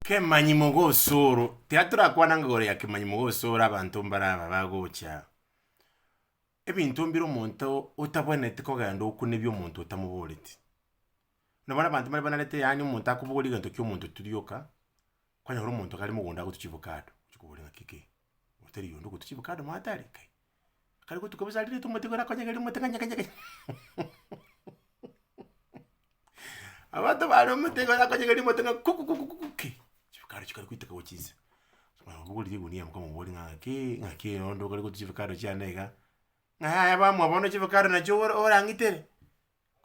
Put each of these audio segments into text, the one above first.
Kemanyi mogosoro, tiga torakwanange igoro ya kemanyi mogosoro abanto mbare aba bagocha aa. Ebinto mbire omonto otabwenereti kogenda okuna ebio omonto otamoboreti. Nabo bono abanto mbare banarete yaani omonto akobogoria egento kia omonto tiri oka, kwanyora omonto gare mogondo agotu chivocado, ochi kobori ng'a kekei, otari yonde ogotu chivocado mono atari kai. Akare gotuka bosa arire tomotigore akonyegeria omote ng'a nyege nyege nyege abanto bare omotigore akonyegeria omote ng'a kuku kuku kuku ki, chifukara chikare goiteka gochia inse. Mara obogorire egunia moka moborie ng'a ng'aki ng'aki onde okare gotu chifukara chiane iga, ng'a yaya bamoa bono chifukara nachio ora orang'itere.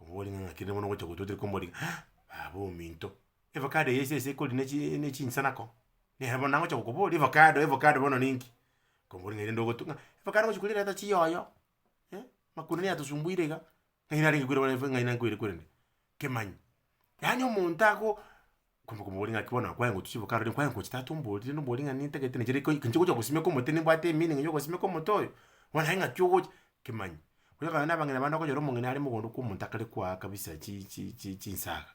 Oborie ng'a kende bono ogocha gototire komori ah baba ominto, evacado eye esese ekori ne chi ne chinsana ko, nere bono nagocha gokoboria evacado evacado bono ninki? Komori ng'a erinde ogotu ng'a evacado ogochi korierete ata chiyoyo, eh, makuna neyatosumbuire iga, ng'ai narenge koira bare ng'ai nankweire korende, kemanyi Yaani omonto ago kwamboka omobori ng'aki bono nakwaye ngotwe chiboka aroro nkwaye ngochi tata omborire na omobori ng'a nintagete nechire iko inche ngocha gosimeka omote nimbwate emeaning ya ogosimeka omote oyo, bono aye ng'aki ogocha, kimanye. Oyokana na abang'ina bande okonyora omong'ina are mogondo kwa omonto akare koa kabisa chi chi chi chinsaga,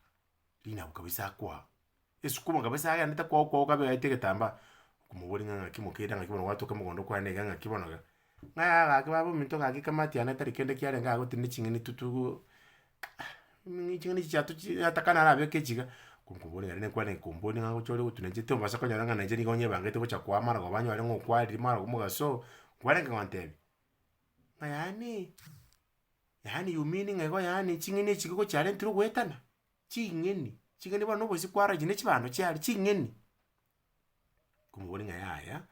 rinabo kabisa akoa. Esukumo kabisa agenderete kwago kwago kabe aete egetambaa, okomoboria ng'a ng'aki mokeire ng'aki bono gwatoka mogondo kwane iga ng'aki bono iga, ng'a yaya gaki baba ominto gaki kama tiana tari kende kiarenge iga gotinde ching'eni tu tugo mmmh ching'eni chichia tochi atakane arabeke echi iga, konkoboria nari nekwane komboria ng'a gocha ore gotuna inche tombasa konyora ng'a na inche nigo nyebangete gocha koa amarogoba anyore ng'a okwariri marogo mogaso, nkwarenge gontebia, ng'a yaani, yaani you mean ng'a igo yaani ching'eni echi gogochi arentire ogoetana. Ching'eni, ching'eni bono nobosie kwaragia ne chibando chiaye ching'eni. Nkomoboria ng'a yaya,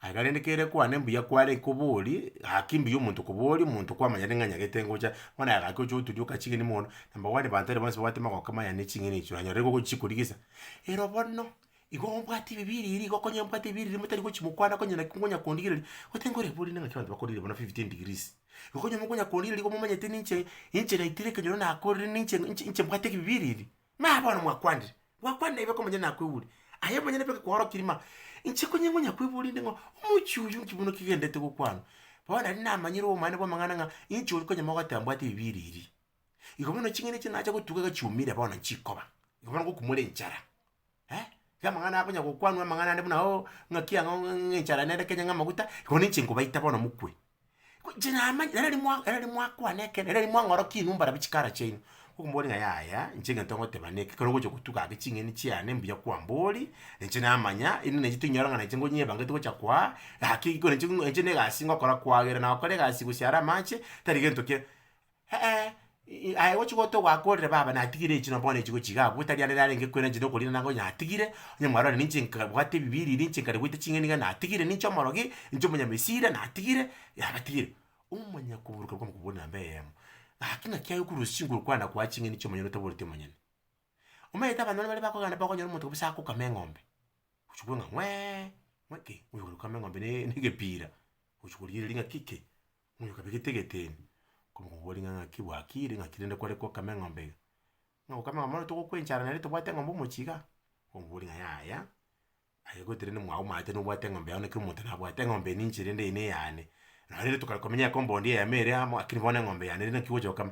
aiga rende kere kwane mbuya kware koborie, gaki mbuya omonto koboria, omonto kwamanyete ng'a nyagete ngocha, bono aye gaki oche oturia oka ching'eni mono, number one banto baria bonsi babwate magoko maya ne ching'eni echio, oranyora igo ogochi korigisa. Ero bono. Igo obwate ebibe ebiiri igo okonye mbwate ebibe ebiiri motari gochia mokwana konye naki nkonya kondigereria, goteba ng'a orebori ning'aki abanto bakorire bono fifteen degrees. Igo onye mokonya kondigereria nigo momanyete ninche inche naitire ekenyoro nakorire ninche inche inche mbwate ebibe ebiiri ebiiri. Naye bono mwakwanire, gwakwanire aye boka omonyene nakwebori, aye omonyene boka ekekwarokiri ma, inche konye ngonya kwebori inde ng'a omochie oyio nki buna kigendete gokwanwa. Bono nari namanyire obomane bw'amang'ana ng'a inche oria konye mogoteba mbwate ebibe ebiiri ebiiri. Igo bono ching'eni echi nacha gotuga iga chiumire bono nchikoba, igo bono ngokumore enchara eh, iga amang'ana akonya gokwanwa amang'ana ande buna oo, ng'aki ang'o ng'e enchara nere kenya ng'amaguta, igo ninche nkobaita bono mokwe. Ko inche namanya nere riria mwa nere riria mwakwana ekero nere riria mwang'orokia inwe mbarabwo chikara chiaino, okomoboria ng'a yaya inche egento ngoteba neke, ekero ogocha gotuga ake ching'eni chiane mbuya kwambori, na inche namanya inde nainche tinyora ng'a nainche ngonyebangete gocha kwaa, gaki ekero nainche ng'a nainche na egasi ngokora kwagera nagokora egasi gose are amache, tari gento kia. Eeh, aye gochi gotogwa akorire baba natigire echi no bono echi gochi iga abwo, tari arere arenge kwera inche nokorira nabo onye natigire, onye mwarorire ninche nkabwate ebibiiri ebi ninche nkare goita ching'eni iga natigire, ninche omorogi, ninche omonyamesira natigire, natigire. Omonyene koburuka kwa mokubori na namba eyemo, gaki ng'aki aye okorwa osigo okwana koa ching'eni chia omonyene otaboreti omonyene. Omanyete abanto baria bare bakogenda bakonyora omonto kabisa akokama eng'ombe, gochi kogwa ng'a ng'weeee, ng'we ki, oyo okame eng'ombe na egepiira, gochi korigereria ng'a ki ki, Omoika okabegete egeteni, okomoboria ng'a naki bwakiire, ng'aki rende kware kokama eng'ombe iga? Ng'a gokama eng'ombe bono togokwencha ara nere tobwate eng'ombe omochie igaa? Okomoboria ng'a yaya, aye gose rende mwago omanyete nobwate eng'ombe yao na kera omonto nabwate, eng'ombe eye ninche rende eye neyane. Nonye rende tokare komenya ecompund eye yamo ere amo, lakini bono eng'ombe yane ere naki gocha gokama.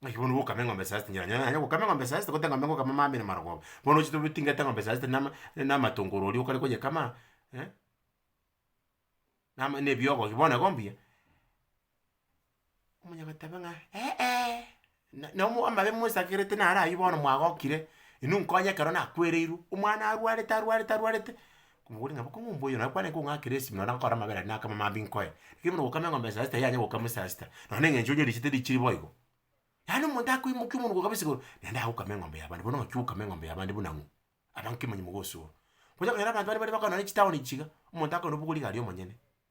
Naki bono bokame eng'ombe esasi tinyara nyonya nonya gokama eng'ombe esasi tigote eng'ombe ngokama mambia ere marogoba, bono ochi tobitingate eng'ombe esasi tende nama tende amatongoro oria okare koyekama, nama na ebiogogi bono igo mbuya, omonyaga oteba ng'a eeh, na na omo amabe mosakerete naro aywo bono mwagokire, inwe nkonye ekero nakwereirwe, omwana arwarete arwarete arwarete. Omogwoti ng'a boka ng'a ombwa oyo nakwane kong'akera esimi nonye nakorora amabera aria nakama mambia nkoye. Lakini buna ogokama eng'ombe saa sita yanya gokama saa sita, nonye na eng'encho onyorichete richire boigo. Yaani omonto akoimokia omonuko kabisa igoro, naende agokama eng'ombe yabande, bono ng'aki ogokama eng'ombe yabande buna ng'o? abanto kemanyie mogosoa. Onya konyora abanto baria bare bakorana ne chitaoni ichiga, omonto akore nobokori iga aria omonyene.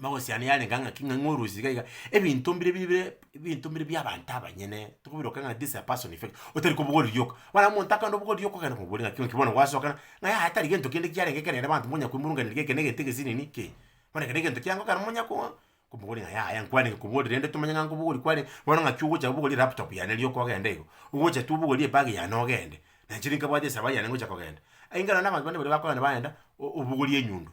Mogosiana yarenge ng'a ki ng'a ng'orusia iga iga, ebinto mbire bi bire ebinto mbire bia abanto abanyene, tokobiroka ng'a this is a person effect, otari kobogoria rioka. Bono omonto akande obogoria rioka okagenda komoboria ng'aki ng'aki bono gwasokana, ng'a yaya tari gento kende kiarenge ekero ere abanto monya koimoronganiria geke na egento egesi nini ki. Bono ekero egento kiango ekero monya ko komoboria ng'a yaya nkwarenge koboria rende tomanye ng'a nkobogoria kwarenge, bono ng'aki ogocha obogorie elaptop yane rioka ogenda igo, ogocha tu obogorie ebag yane ogende, na inche rinkabwate esabari yane ngocha kogenda. Aye nkerore na abanto bande baria bakogenda bagenda o- obogoria enyundo.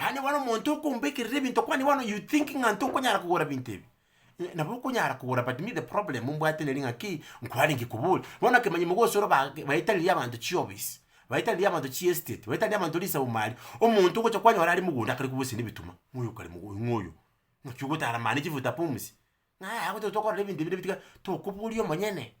Yaani bono omonto okombekerera ebinto kwani bono you think ng'a ntokonyara kogora ebinto ebi? Ng'a nabo okonyara kogora but me the problem mbwate nere ng'a kei, nkwarenge kobori. Bono okemanyi mogosoro ba baetaririe abanto chiofisi, baetaririe abanto chiestate, baetaririe abanto risaumari, omonto ogocha kwanyora are mogondo akare kobusana ebituma, ng'a oyo kare mogo ng'a oyo, naki ogotara mani chifuta pumzi? Ng'a yaya gototokorera ebinto ebi nabi tiga tokoboria omonyene.